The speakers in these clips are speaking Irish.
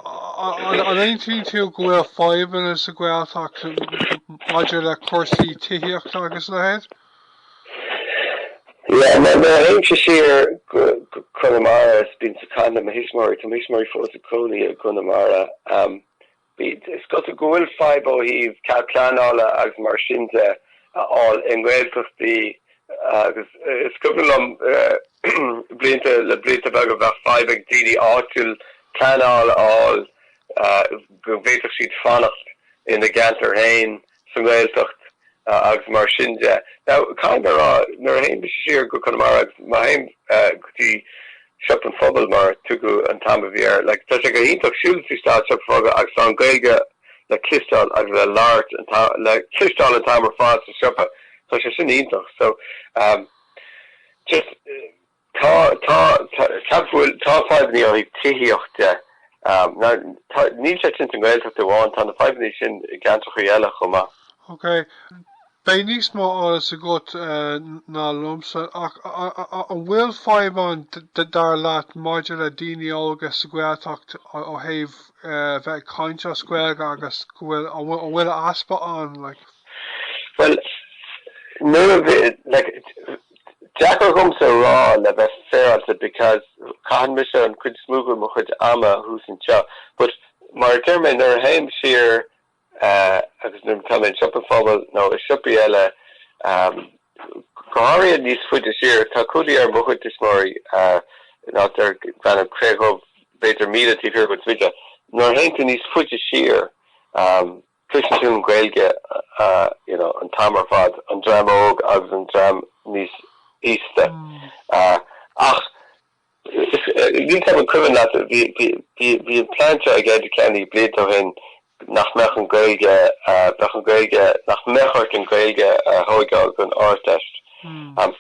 An aontaíonn tú go bhfuil fadhbanna sa Ghaeltacht maidir le cúrsaí tithíochta agus a leithéid? Yeah, nuair a théimse siar go Conamara is bím ag caint le mo thuismitheoirí, tá mo thuismitheoirí fós ag cónaí i gConamara, is cosúil go bhfuil fadhb ó thaobh cead pleanála agus mar sin de a fháil i nGaeltachtaí Is cuimhin liom blianta le blianta beaga bheadh fadhb ag daoine áitiúil pleanáil a fháil go bhféadfadh siad fanacht ina gceantar féin sa nGaeltacht agus mar sin de. Now caithfidh mé a rá nuair a théim siar go Conamara agus má théim go dtí Siopa an Phobail mar a thugainn an t-am a bhí air, like tá sé go hiontach siúl trí an siopa fiú agus tá an Ghaeilge le cloisteáil agus le labhairt an, le cloisteáil an t-am ar fad sa siopa, tá sé sin iontach. So um just tá tá ceapaim go bhfuil tá fadhbanna ó thaobh tithíocht de, um ná tá níl sé sin sa nGaeltacht amháin, tá na fadhbanna sin i gceantracha eile chomh maith. Ok, Beidh níos mó eolas agat ná liomsa, ach an bhfuil fadhb ann, dar leat, maidir le daoine óga sa Ghaeltacht ó thaobh bheith ag caint as Gaeilge agus go bhfuil, an bhfuil a easpa ann, like? Bhuel, níl a fhios, like, deacair dhomsa a rá le bheith féaráilte because caitheann mise an chuid is mó de mo chuid ama thuas anseo but mar a deir mé, nuair a théim siar agus nuair atá mé i Siopa an Phobail nó i siopaí eile, go háirithe níos faide siar, tá cónaí ar mo chuid tuismitheoirí in áit darb ainm Cré Dhubh b'fhéidir míle taobh thiar de Thigh Kitt. Nuair a théann tú níos faide siar, cloiseann tú an Ghaeilge you know an t-am ar fad, an dream óg agus an dream níos aosta. Ach. An cuimhin leat, bhí, bhí, bhí, bhí an plean seo ag Enda Kenny blianta ó shin nach mbeadh an Gaeilge, eh, bheadh an Gaeilge, nach mbeadh ort an Gaeilge a thógáil don Ardteist. Um,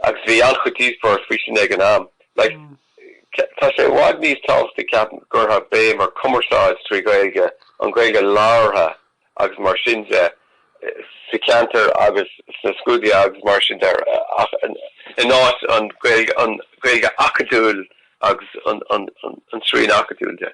agus bhí an-chuid díospóireacht faoi sin ag an am. Like, ce- tá sé i bhfad níos tábhachtaí ceapaim go bhfuil béim ar cumarsáid trí Ghaeilge, an Ghaeilge labhartha, agus mar sin de, sa cheantar agus sna scrúduithe agus mar sin de in áit an Ghaeilge acadúil agus an srian acadúil de.